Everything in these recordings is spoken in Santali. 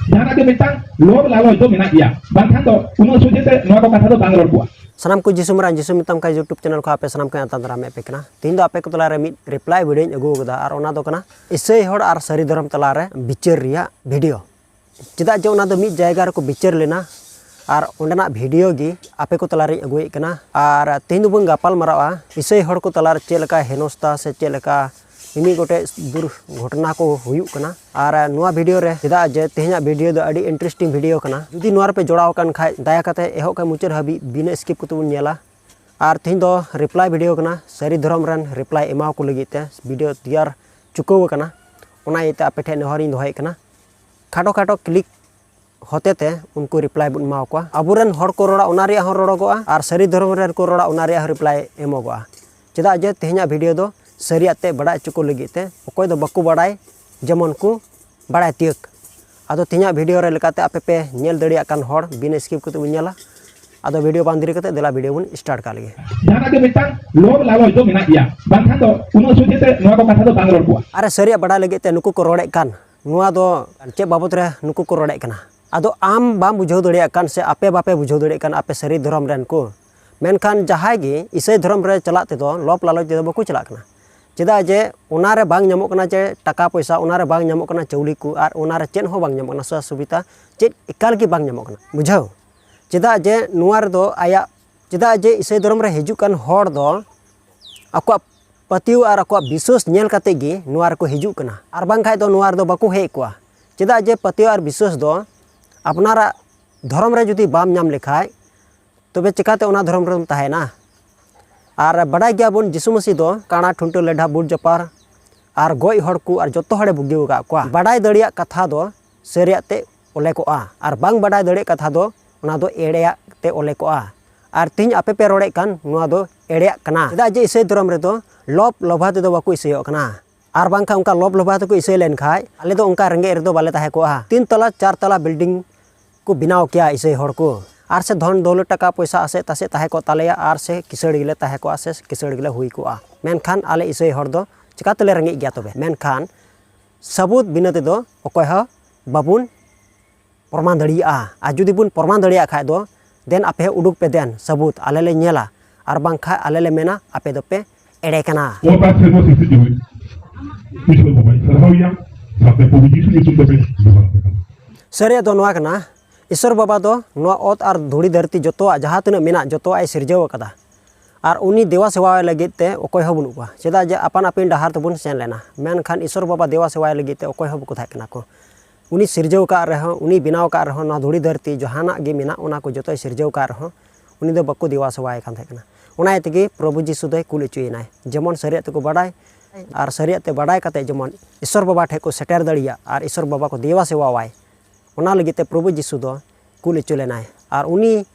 ᱡᱟᱦᱟᱱᱟᱜ ᱜᱮ ᱢᱤᱫᱴᱟᱝ ᱞᱳᱵ ᱞᱟᱞᱚᱪ ᱫᱚ ᱢᱮᱱᱟᱜ ᱜᱮᱭᱟ ᱵᱟᱝᱠᱷᱟᱱ ᱫᱚ ᱩᱱᱟᱹᱜ ᱥᱚᱡᱷᱮ ᱛᱮ ᱱᱚᱣᱟ ᱠᱚ ᱠᱟᱛᱷᱟ ᱫᱚ ᱵᱟᱝ ᱨᱚᱲ ᱠᱚᱜᱼᱟ ᱥᱟᱱᱟᱢ ᱠᱚ ᱡᱤᱥᱩ ᱢᱟᱨᱟᱝ ᱡᱤᱥᱩ ᱢᱮᱛᱟᱢ ᱠᱟᱱ ᱭᱩᱴᱩᱵᱽ ᱪᱮᱱᱮᱞ ᱠᱷᱚᱱ ᱟᱯᱮ ᱥᱟᱱᱟᱢ ᱠᱚ ᱟᱛᱟᱝ ᱫᱟᱨᱟᱢᱮᱫ ᱯᱮ ᱠᱟᱱᱟ ᱛᱮᱦᱮᱧ ᱫᱚ ᱟᱯᱮ ᱠᱚ ᱛᱟᱞᱟᱨᱮ ᱢᱤᱫ ᱨᱤᱯᱞᱟᱭ ᱵᱷᱤᱰᱤᱭᱳᱧ ᱟᱹᱜᱩ ᱟᱠᱟᱫᱟ ᱟᱨ ᱚᱱᱟ ᱫᱚ ᱠᱟᱱᱟ ᱤᱥᱟᱹᱭ ᱦᱚᱲ ᱟᱨ ᱥᱟᱹᱨᱤ ᱫᱷᱚᱨᱚᱢ ᱛᱟᱞᱟᱨᱮ ᱵᱤᱪᱟᱹᱨ ᱨᱮᱭᱟᱜ ᱵᱷᱤᱰᱤᱭᱳ ᱪᱮᱫᱟᱜ ᱡᱮ ᱚᱱᱟ ᱫᱚ ᱢᱤᱫ ᱡᱟᱭᱜᱟ ᱨᱮᱠᱚ ᱵᱤᱪᱟᱹᱨ ᱞᱮᱱᱟ ᱟᱨ ᱚᱸᱰᱮᱱᱟᱜ ᱵᱷᱤᱰᱤᱭᱳ ᱜᱮ ᱟᱯᱮ ᱠᱚ ᱛᱟᱞᱟᱨᱮᱧ ᱟᱹᱜᱩᱭᱮᱫ ᱠᱟᱱᱟ ᱟᱨ ᱛᱮᱦᱮᱧ ᱫᱚᱵᱚᱱ ᱜᱟᱯᱟᱞ ᱢᱟᱨᱟᱜᱼᱟ ᱤᱥᱟᱹᱭ ᱦᱚᱲ ᱠᱚ ᱛᱟᱞᱟᱨᱮ ᱪᱮᱫ ᱞᱮᱠᱟ ᱦᱮᱱᱚᱥᱛᱟ ᱥᱮ ᱪᱮᱫ ᱞᱮᱠᱟ ᱢᱤᱢᱤᱫ ᱜᱚᱴᱮᱡ ᱫᱩᱨᱜᱷᱚᱴᱚᱱᱟ ᱠᱚ ᱦᱩᱭᱩᱜ ᱠᱟᱱᱟ ᱟᱨ ᱱᱚᱣᱟ ᱵᱷᱤᱰᱤᱭᱳ ᱨᱮ ᱪᱮᱫᱟᱜ ᱡᱮ ᱛᱮᱦᱮᱧᱟᱜ ᱵᱷᱤᱰᱤᱭᱳ ᱫᱚ ᱟᱹᱰᱤ ᱤᱱᱴᱟᱨᱮᱥᱴᱤᱝ ᱵᱷᱤᱰᱤᱭᱳ ᱠᱟᱱᱟ ᱡᱩᱫᱤ ᱱᱚᱣᱟ ᱨᱮᱯᱮ ᱡᱚᱲᱟᱣ ᱟᱠᱟᱱ ᱠᱷᱟᱡ ᱫᱟᱭᱟ ᱠᱟᱛᱮ ᱮᱦᱚᱵ ᱠᱷᱚᱡ ᱢᱩᱪᱟᱹᱫ ᱦᱟᱹᱵᱤᱡ ᱵᱤᱱᱟᱹ ᱥᱠᱤᱯ ᱠᱟᱛᱮ ᱵᱚᱱ ᱧᱮᱞᱟ ᱟᱨ ᱛᱮᱦᱮᱧ ᱫᱚ ᱨᱤᱯᱞᱟᱭ ᱵᱷᱤᱰᱤᱭᱳ ᱠᱟᱱᱟ ᱥᱟᱹᱨᱤ ᱫᱷᱚᱨᱚᱢ ᱨᱮᱱ ᱨᱤᱯᱞᱟᱭ ᱮᱢᱟᱣ ᱠᱚ ᱞᱟᱹᱜᱤᱫ ᱛᱮ ᱵᱷᱤᱰᱤᱭᱳ ᱛᱮᱭᱟᱨ ᱪᱩᱠᱟᱹᱣ ᱟᱠᱟᱱᱟ ᱚᱱᱟ ᱤᱭᱟᱹᱛᱮ ᱟᱯᱮ ᱴᱷᱮᱡ ᱱᱮᱦᱚᱨᱤᱧ ᱫᱚᱦᱚᱭᱮᱫ ᱠᱟᱱᱟ ᱠᱷᱟᱴᱚ ᱠᱷᱟᱴᱚ ᱠᱞᱤᱠ ᱦᱚᱛᱮᱛᱮ ᱩᱱᱠᱩ ᱨᱤᱯᱞᱟᱭ ᱵᱚᱱ ᱮᱢᱟ ᱠᱚᱣᱟ ᱟᱵᱚᱨᱮᱱ ᱦᱚᱲ ᱠᱚ ᱨᱚᱲᱟ ᱚᱱᱟ ᱨᱮᱭᱟᱜ ᱦᱚᱸ ᱨᱚᱲᱚᱜᱚᱜᱼᱟ ᱟᱨ ᱥᱟᱹᱨᱤ ᱫᱷᱚᱨᱚᱢ ᱨᱮᱱ ᱠᱚ ᱨᱚᱲᱟ ᱚᱱᱟ ᱨᱮᱭᱟᱜ ᱦᱚᱸ ᱨᱤᱯᱞᱟᱭ ᱮᱢᱚᱜᱚᱜᱼᱟ ᱪᱮᱫᱟᱜ ᱡᱮ ᱛᱮᱦᱮᱧᱟᱜ ᱵᱷᱤᱰᱤᱭᱳ ᱫᱚ ᱥᱟᱹᱨᱤᱭᱟᱜ ᱛᱮ ᱵᱟᱰᱟᱭ ᱦᱚᱪᱚ ᱠᱚ ᱞᱟᱹᱜᱤᱫ ᱛᱮ ᱚᱠᱚᱭ ᱫᱚ ᱵᱟᱠᱚ ᱵᱟᱲᱟᱭ ᱡᱮᱢᱚᱱ ᱠᱚ ᱵᱟᱲᱟᱭ ᱛᱤᱭᱟᱹᱜ ᱟᱫᱚ ᱛᱮᱦᱮᱧᱟᱜ ᱵᱷᱤᱰᱤᱭᱳ ᱨᱮ ᱞᱮᱠᱟᱛᱮ ᱟᱯᱮ ᱯᱮ ᱧᱮᱞ ᱫᱟᱲᱮᱭᱟᱜ ᱠᱟᱱ ᱦᱚᱲ ᱵᱤᱱ ᱥᱠᱤᱯ ᱠᱟᱛᱮ ᱵᱚᱱ ᱧᱮᱞᱟ ᱟᱫᱚ ᱵᱷᱤᱰᱤᱭᱳ ᱵᱟᱝ ᱫᱮᱨᱤ ᱠᱟᱛᱮ ᱫᱮᱞᱟ ᱵᱷᱤᱰᱤᱭᱳ ᱵᱚᱱ ᱥᱴᱟᱨᱴ ᱠᱟᱜ ᱞᱮᱜᱮ ᱡᱟᱦᱟᱸ ᱜᱮ ᱢᱤᱫᱴᱟᱝ ᱞᱚᱵ ᱞᱟᱞᱚᱪ ᱫᱚ ᱢᱮᱱᱟᱜ ᱜᱮᱭᱟ ᱵᱟᱝᱠᱷᱟᱱ ᱫᱚ ᱩᱱᱟᱹᱜ ᱥᱚᱡᱷᱮ ᱛᱮ ᱱᱚᱣᱟ ᱠᱚ ᱠᱟᱛᱷᱟ ᱫᱚ ᱵᱟᱝ ᱨᱚᱲ ᱠᱚᱜᱼᱟ ᱟᱨ ᱥᱟᱹᱨᱤᱭᱟᱜ ᱵᱟᱰᱟᱭ ᱞᱟᱹᱜᱤᱫ ᱛᱮ ᱱᱩᱠᱩ ᱠᱚ ᱨᱚᱲᱮᱫ ᱠᱟᱱ ᱱᱚᱣᱟ ᱫᱚ ᱪᱮᱫ ᱵᱟᱵᱚᱛ ᱨᱮ ᱱᱩᱠᱩ ᱠᱚ ᱨᱚᱲᱮᱫ ᱠᱟᱱᱟ ᱟᱫᱚ ᱟᱢ ᱵᱟᱢ ᱵᱩᱡᱷᱟᱹᱣ ᱫᱟᱲᱮᱭᱟᱜ ᱠᱟᱱ ᱥᱮ ᱟᱯᱮ ᱵᱟᱯᱮ ᱵᱩᱡᱷᱟᱹᱣ ᱫᱟᱲᱮᱭᱟᱜ ᱠᱟᱱ ᱟᱯᱮ ᱥᱟᱹᱨᱤ ᱫᱷᱚᱨᱚᱢ ᱨᱮᱱ ᱠᱚ ᱢᱮᱱᱠᱷᱟᱱ ᱡᱟᱦᱟᱸᱭ ᱜᱮ ᱤᱥᱟᱹᱭ ᱫᱷᱚᱨᱚᱢ ᱨᱮ ᱪᱟᱞᱟᱜ ᱛᱮᱫᱚ ᱞᱚᱵ ᱞᱟᱞᱚᱪ ᱛᱮᱫᱚ ᱵᱟᱠᱚ ᱪᱟᱞᱟᱜ ᱠᱟᱱᱟ ᱪᱮᱫᱟᱜ ᱡᱮ ᱚᱱᱟᱨᱮ ᱵᱟᱝ ᱧᱟᱢᱚᱜ ᱠᱟᱱᱟ ᱡᱮ ᱴᱟᱠᱟ ᱯᱚᱭᱥᱟ ᱚᱱᱟᱨᱮ ᱵᱟᱝ ᱧᱟᱢᱚᱜ ᱠᱟᱱᱟ ᱪᱟᱣᱞᱮ ᱠᱚ ᱟᱨ ᱚᱱᱟᱨᱮ ᱪᱮᱫ ᱦᱚᱸ ᱵᱟᱝ ᱧᱟᱢᱚᱜ ᱠᱟᱱᱟ ᱥᱩᱡᱳᱜᱽ ᱥᱩᱵᱤᱫᱷᱟ ᱪᱮᱫ ᱮᱠᱟᱞ ᱜᱮ ᱵᱟᱝ ᱧᱟᱢᱚᱜ ᱠᱟᱱᱟ ᱵᱩᱡᱷᱟᱹᱣ ᱪᱮᱫᱟᱜ ᱡᱮ ᱱᱚᱣᱟ ᱨᱮᱫᱚ ᱟᱭᱟᱜ ᱪᱮᱫᱟᱜ ᱡᱮ ᱤᱥᱟᱹᱭ ᱫᱷᱚᱨᱚᱢ ᱨᱮ ᱦᱤᱡᱩᱜ ᱠᱟᱱ ᱦᱚᱲ ᱫᱚ ᱟᱠᱚᱣᱟᱜ ᱯᱟᱹᱛᱭᱟᱹᱣ ᱟᱨ ᱟᱠᱚᱣᱟᱜ ᱵᱤᱥᱣᱟᱹᱥ ᱧᱮᱞ ᱠᱟᱛᱮ ᱜᱮ ᱱᱚᱣᱟ ᱨᱮᱠᱚ ᱦᱤᱡᱩᱜ ᱠᱟᱱᱟ ᱟᱨ ᱵᱟᱝ ᱠᱷᱟᱡ ᱫᱚ ᱱᱚᱣᱟ ᱨᱮᱫᱚ ᱵᱟᱠᱚ ᱦᱮᱡ ᱠᱚᱜᱼᱟ ᱪᱮᱫᱟᱜ ᱡᱮ ᱯᱟᱹᱛᱭᱟᱹᱣ ᱟᱨ ᱵᱤᱥᱣᱟᱹᱥ ᱫᱚ ᱟᱯᱱᱟᱨᱟᱜ ᱫᱷᱚᱨᱚᱢ ᱨᱮ ᱡᱩᱫᱤ ᱵᱟᱢ ᱧᱟᱢ ᱞᱮᱠᱷᱟᱡ ᱛᱚᱵᱮ ᱪᱮᱠᱟᱛᱮ ᱚᱱᱟ ᱫᱷᱚᱨᱚᱢ ᱨᱮᱢ ᱛᱟᱦᱮᱱᱟ ᱟᱨ ᱵᱟᱰᱟᱭ ᱜᱮᱭᱟᱵᱚᱱ ᱡᱤᱥᱩ ᱢᱟᱹᱥᱤ ᱫᱚ ᱠᱟᱬᱟ ᱴᱷᱩᱱᱴᱟᱹ ᱞᱮᱰᱷᱟ ᱵᱩᱴ ᱡᱟᱯᱟᱨ ᱟᱨ ᱜᱚᱡ ᱦᱚᱲ ᱠᱚ ᱟᱨ ᱡᱚᱛᱚ ᱦᱚᱲᱮ ᱵᱩᱜᱤ ᱟᱠᱟᱫ ᱠᱚᱣᱟ ᱵᱟᱰᱟᱭ ᱫᱟᱲᱮᱭᱟᱜ ᱠᱟᱛᱷᱟ ᱫᱚ ᱥᱟᱹᱨᱤᱭᱟᱜ ᱛᱮ ᱚᱞᱮ ᱠᱚᱜᱼᱟ ᱟᱨ ᱵᱟᱝ ᱵᱟᱰᱟᱭ ᱫᱟᱲᱮᱭᱟᱜ ᱠᱟᱛᱷᱟ ᱫᱚ ᱚᱱᱟ ᱫᱚ ᱮᱲᱮᱭᱟᱜ ᱛᱮ ᱚᱞᱮ ᱠᱚᱜᱼᱟ ᱟᱨ ᱛᱮᱦᱮᱧ ᱟᱯᱮ ᱯᱮ ᱨᱚᱲᱮᱫ ᱠᱟᱱ ᱱᱚᱣᱟ ᱫᱚ ᱮᱲᱮᱭᱟᱜ ᱠᱟᱱᱟ ᱪᱮᱫᱟᱜ ᱡᱮ ᱤᱥᱟᱹᱭ ᱫᱷᱚᱨᱚᱢ ᱨᱮᱫᱚ ᱞᱚᱵᱽ ᱞᱚᱵᱷᱟ ᱛᱮᱫᱚ ᱵᱟᱠᱚ ᱤᱥᱟᱹᱭᱚᱜ ᱠᱟᱱᱟ ᱟᱨ ᱵᱟᱝᱠᱷᱟᱱ ᱚᱱᱠᱟ ᱞᱚᱵᱽ ᱞᱚᱵᱷᱟ ᱛᱮᱠᱚ ᱤᱥᱟᱹᱭ ᱞᱮᱱᱠᱷᱟᱱ ᱟᱞᱮ ᱫᱚ ᱚᱱᱠᱟ ᱨᱮᱸᱜᱮᱡ ᱨᱮᱫᱚ ᱵᱟᱞᱮ ᱛᱟᱦᱮᱸ ᱠᱚᱜᱼᱟ ᱛᱤᱱ ᱛᱟᱞᱟ ᱪᱟᱨ ᱛᱟᱞᱟ ᱵᱤᱞᱰᱤᱝ ᱠᱚ ᱵᱮᱱᱟᱣ ᱠᱮᱭᱟ ᱤᱥᱟᱹᱭ ᱦᱚᱲ ᱠᱚ ᱟᱨ ᱥᱮ ᱫᱷᱚᱱ ᱫᱚᱣᱞᱚᱛ ᱴᱟᱠᱟ ᱯᱚᱭᱥᱟ ᱟᱥᱮ ᱛᱟᱥᱮ ᱛᱟᱦᱮᱸ ᱠᱚᱜ ᱛᱟᱞᱮᱭᱟ ᱟᱨ ᱥᱮ ᱠᱤᱥᱟᱹᱬ ᱜᱮᱞᱮ ᱛᱟᱦᱮᱸ ᱠᱚᱜᱼᱟ ᱥᱮ ᱠᱤᱥᱟᱹᱬ ᱜᱮᱞᱮ ᱦᱩᱭ ᱠᱚᱜᱼᱟ ᱢᱮᱱᱠᱷᱟᱱ ᱟᱞᱮ ᱤᱥᱟᱹᱭ ᱦᱚᱲ ᱫᱚ ᱪᱤᱠᱟᱹ ᱛᱮᱞᱮ ᱨᱮᱸᱜᱮᱡ ᱜᱮᱭᱟ ᱛᱚᱵᱮ ᱢᱮᱱᱠᱷᱟᱱ ᱥᱟᱹᱵᱩᱫ ᱵᱤᱱᱟᱹ ᱛᱮᱫᱚ ᱚᱠᱚᱭ ᱦᱚᱸ ᱵᱟᱵᱚᱱ ᱯᱨᱚᱢᱟᱱ ᱫᱟᱲᱮᱭᱟᱜᱼᱟ ᱟᱨ ᱡᱩᱫᱤ ᱵᱚᱱ ᱯᱨᱚᱢᱟᱱ ᱫᱟᱲᱮᱭᱟᱜ ᱠᱷᱟᱡ ᱫᱚ ᱫᱮᱱ ᱟᱯᱮ ᱦᱚᱸ ᱩᱰᱩᱠ ᱯᱮ ᱫᱮᱱ ᱥᱟᱹᱵᱩᱫ ᱟᱞᱮ ᱞᱮ ᱧᱮᱞᱟ ᱟᱨ ᱵᱟᱝᱠᱷᱟᱡ ᱟᱞᱮ ᱞᱮ ᱢᱮᱱᱟ ᱟᱯᱮ ᱫᱚᱯᱮ ᱮᱲᱮ ᱠᱟᱱᱟ ᱚ ᱛᱟᱨ ᱥᱮᱫ ᱫᱚ ᱥᱤᱥᱤ ᱡᱩᱢᱤ ᱠᱤᱥᱚᱨ ᱵᱟᱵᱟᱭ ᱥᱟᱨᱦᱟᱣᱭᱟ ᱥᱟᱛᱮ ᱯᱚᱵᱤ ᱡᱤᱥᱩ ᱧᱩᱛᱩᱢ ᱛᱮᱯᱮ ᱵᱮᱵᱷᱟᱨ ᱯᱮ ᱠᱟᱱᱟ ᱥᱟᱹᱨᱤᱭᱟᱜ ᱫᱚ ᱱᱚᱣᱟ ᱠᱟᱱᱟ ᱤᱥᱚᱨ ᱵᱟᱵᱟ ᱫᱚ ᱱᱚᱣᱟ ᱚᱛ ᱟᱨ ᱫᱷᱩᱲᱤ ᱫᱷᱟᱹᱨᱛᱤ ᱡᱚᱛᱚᱣᱟᱜ ᱡᱟᱦᱟᱸ ᱛᱤᱱᱟᱹᱜ ᱢᱮᱱᱟᱜ ᱡᱚᱛᱚᱣᱟᱜ ᱮ ᱥᱤᱨᱡᱟᱹᱣ ᱟᱠᱟᱫᱟ ᱟᱨ ᱩᱱᱤ ᱫᱮᱣᱟ ᱥᱮᱣᱟᱭ ᱞᱟᱹᱜᱤᱫ ᱛᱮ ᱚᱠᱚᱭ ᱦᱚᱸ ᱵᱟᱹᱱᱩᱜ ᱠᱚᱣᱟ ᱪᱮᱫᱟᱜ ᱡᱮ ᱟᱯᱟᱱ ᱟᱹᱯᱤᱱ ᱰᱟᱦᱟᱨ ᱛᱮᱵᱚᱱ ᱥᱮᱱ ᱞᱮᱱᱟ ᱢᱮᱱᱠᱷᱟᱱ ᱤᱥᱥᱚᱨ ᱵᱟᱵᱟ ᱫᱮᱣᱟ ᱥᱮᱣᱟᱭ ᱞᱟᱹᱜᱤᱫ ᱛᱮ ᱚᱠᱚᱭ ᱦᱚᱸ ᱵᱟᱠᱚ ᱛᱟᱦᱮᱸ ᱠᱟᱱᱟ ᱠᱚ ᱩᱱᱤ ᱥᱤᱨᱡᱟᱹᱣ ᱟᱠᱟᱫ ᱨᱮᱦᱚᱸ ᱩᱱᱤ ᱵᱮᱱᱟᱣ ᱟᱠᱟᱫ ᱨᱮᱦᱚᱸ ᱱᱚᱣᱟ ᱫᱷᱩᱲᱤ ᱫᱷᱟᱹᱨᱛᱤ ᱡᱟᱦᱟᱱᱟᱜ ᱜᱮ ᱢᱮᱱᱟᱜ ᱚᱱᱟ ᱠᱚ ᱡᱚᱛᱚᱭ ᱥᱤᱨᱡᱟᱹᱣ ᱟᱠᱟᱫ ᱨᱮᱦᱚᱸ ᱩᱱᱤ ᱫᱚ ᱵᱟᱠᱚ ᱫᱮᱣᱟ ᱥᱮᱣᱟᱭᱮ ᱠᱟᱱ ᱛᱟᱦᱮᱸ ᱠᱟᱱᱟ ᱚᱱᱟ ᱤᱭᱟᱹ ᱛᱮᱜᱮ ᱯᱨᱚᱵᱷᱩ ᱡᱤᱥᱩ ᱫᱚᱭ ᱠᱩᱞ ᱦᱚᱪᱚᱭᱮᱱᱟᱭ ᱡᱮᱢᱚᱱ ᱥᱟᱹᱨᱤᱭᱟᱜ ᱛᱮᱠᱚ ᱵᱟᱰᱟᱭ ᱟᱨ ᱥᱟᱹᱨᱤᱭᱟᱜ ᱛᱮ ᱵᱟᱰᱟᱭ ᱠᱟᱛᱮ ᱡᱮᱢᱚᱱ ᱤᱥᱥᱚᱨ ᱵᱟᱵᱟ ᱴᱷᱮᱱ ᱠᱚ ᱥᱮᱴᱮᱨ ᱫᱟᱲᱮᱭᱟᱜ ᱟᱨ ᱤᱥᱥᱚᱨ ᱵᱟᱵᱟ ᱠᱚ ᱫᱮᱣᱟ ᱥᱮᱣᱟᱣᱟᱭ ᱚᱱᱟ ᱞᱟᱹᱜᱤᱫ ᱛᱮ ᱯᱨᱚᱵᱷᱩ ᱡᱤᱥᱩ ᱫᱚ ᱠᱩᱞ ᱦᱚᱪᱚ ᱞᱮᱱᱟᱭ ᱟᱨ ᱩᱱᱤ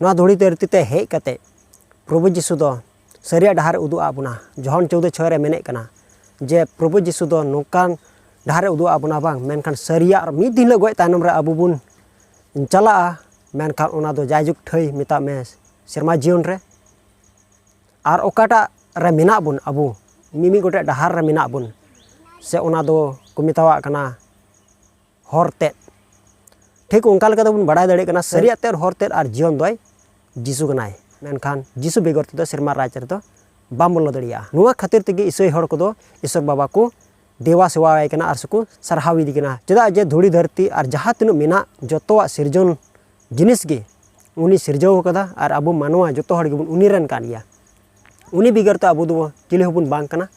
ᱱᱚᱣᱟ ᱫᱷᱩᱲᱤ ᱫᱷᱟᱹᱨᱛᱤ ᱛᱮ ᱦᱮᱡ ᱠᱟᱛᱮ ᱯᱨᱚᱵᱷᱩ ᱡᱤᱥᱩ ᱫᱚ ᱥᱟᱹᱨᱤᱭᱟᱜ ᱰᱟᱦᱟᱨ ᱩᱫᱩᱜ ᱟᱫ ᱵᱚᱱᱟ ᱡᱚᱦᱚᱱ ᱪᱳᱫᱽᱫᱳ ᱪᱷᱚᱭ ᱨᱮ ᱢᱮᱱᱮᱫ ᱠᱟᱱᱟ ᱡᱮ ᱯᱨᱚᱵᱷᱩ ᱡᱤᱥᱩ ᱫᱚ ᱱᱚᱝᱠᱟᱱ ᱰᱟᱦᱟᱨ ᱩᱫᱩᱜ ᱟᱫ ᱵᱚᱱᱟ ᱵᱟᱝ ᱢᱮᱱᱠᱷᱟᱱ ᱥᱟᱹᱨᱤᱭᱟᱜ ᱢᱤᱫ ᱫᱤᱱ ᱦᱤᱞᱳᱜ ᱜᱚᱡ ᱛᱟᱭᱱᱚᱢ ᱨᱮ ᱟᱵᱚ ᱵᱚᱱ ᱪᱟᱞᱟᱜᱼᱟ ᱢᱮᱱᱠᱷᱟᱱ ᱚᱱᱟ ᱫᱚ ᱡᱟᱭᱡᱩᱜᱽ ᱴᱷᱟᱹᱭ ᱢᱮᱛᱟᱜ ᱢᱮ ᱥᱮᱨᱢᱟ ᱡᱤᱭᱚᱱ ᱨᱮ ᱟᱨ ᱚᱠᱟᱴᱟᱜ ᱨᱮ ᱢᱮᱱᱟᱜ ᱵᱚᱱ ᱟᱵᱚ ᱢᱤᱢᱤᱫ ᱜᱚᱴᱮᱡ ᱰᱟᱦᱟᱨ ᱨᱮ ᱢᱮᱱᱟᱜ ᱵᱚᱱ ᱥᱮ ᱚᱱᱟ ᱫᱚᱠᱚ ᱢᱮᱛᱟᱣᱟᱜ ᱠᱟᱱᱟ ᱦᱚᱨ ᱛᱮᱫ ᱴᱷᱤᱠ ᱚᱱᱠᱟ ᱞᱮᱠᱟ ᱛᱮᱵᱚᱱ ᱵᱟᱲᱟᱭ ᱫᱟᱲᱮᱭᱟᱜ ᱠᱟᱱᱟ ᱥᱟᱹᱨᱤᱭᱟᱜ ᱛᱮᱫ ᱦᱚᱨ ᱛᱮᱫ ᱟᱨ ᱡᱤᱭᱚᱱ ᱫᱚᱭ ᱡᱤᱥᱩ ᱠᱟᱱᱟᱭ ᱢᱮᱱᱠᱷᱟᱱ ᱡᱤᱥᱩ ᱵᱮᱜᱚᱨ ᱛᱮᱫᱚ ᱥᱮᱨᱢᱟ ᱨᱟᱡᱽ ᱨᱮᱫᱚ ᱵᱟᱢ ᱵᱚᱞᱚ ᱫᱟᱲᱮᱭᱟᱜᱼᱟ ᱱᱚᱣᱟ ᱠᱷᱟᱹᱛᱤᱨ ᱛᱮᱜᱮ ᱤᱥᱟᱹᱭ ᱦᱚᱲ ᱠᱚᱫᱚ ᱤᱥᱚᱨ ᱵᱟᱵᱟ ᱠᱚ ᱫᱮᱣᱟ ᱥᱮᱣᱟᱭ ᱠᱟᱱᱟ ᱟᱨ ᱥᱮᱠᱚ ᱥᱟᱨᱦᱟᱣ ᱤᱫᱤ ᱠᱟᱱᱟ ᱪᱮᱫᱟᱜ ᱡᱮ ᱫᱷᱩᱲᱤ ᱫᱷᱟᱹᱨᱛᱤ ᱟᱨ ᱡᱟᱦᱟᱸ ᱛᱤᱱᱟᱹᱜ ᱢᱮᱱᱟᱜ ᱡᱚᱛᱚᱣᱟᱜ ᱥᱤᱨᱡᱚᱱ ᱡᱤᱱᱤᱥ ᱜᱮ ᱩᱱᱤ ᱥᱤᱨᱡᱟᱹᱣ ᱠᱟᱫᱟ ᱟᱨ ᱟᱵᱚ ᱢᱟᱱᱣᱟ ᱡᱚᱛᱚ ᱦᱚᱲ ᱜᱮᱵᱚᱱ ᱩᱱᱤ ᱨᱮᱱ ᱠᱟᱱ ᱜᱮᱭᱟ ᱩᱱᱤ ᱵᱮᱜᱚᱨ ᱛᱚ ᱟᱵᱚ ᱫᱚ ᱪᱤᱞᱤ ᱦᱚᱸᱵᱚᱱ ᱵᱟᱝ ᱠᱟᱱᱟ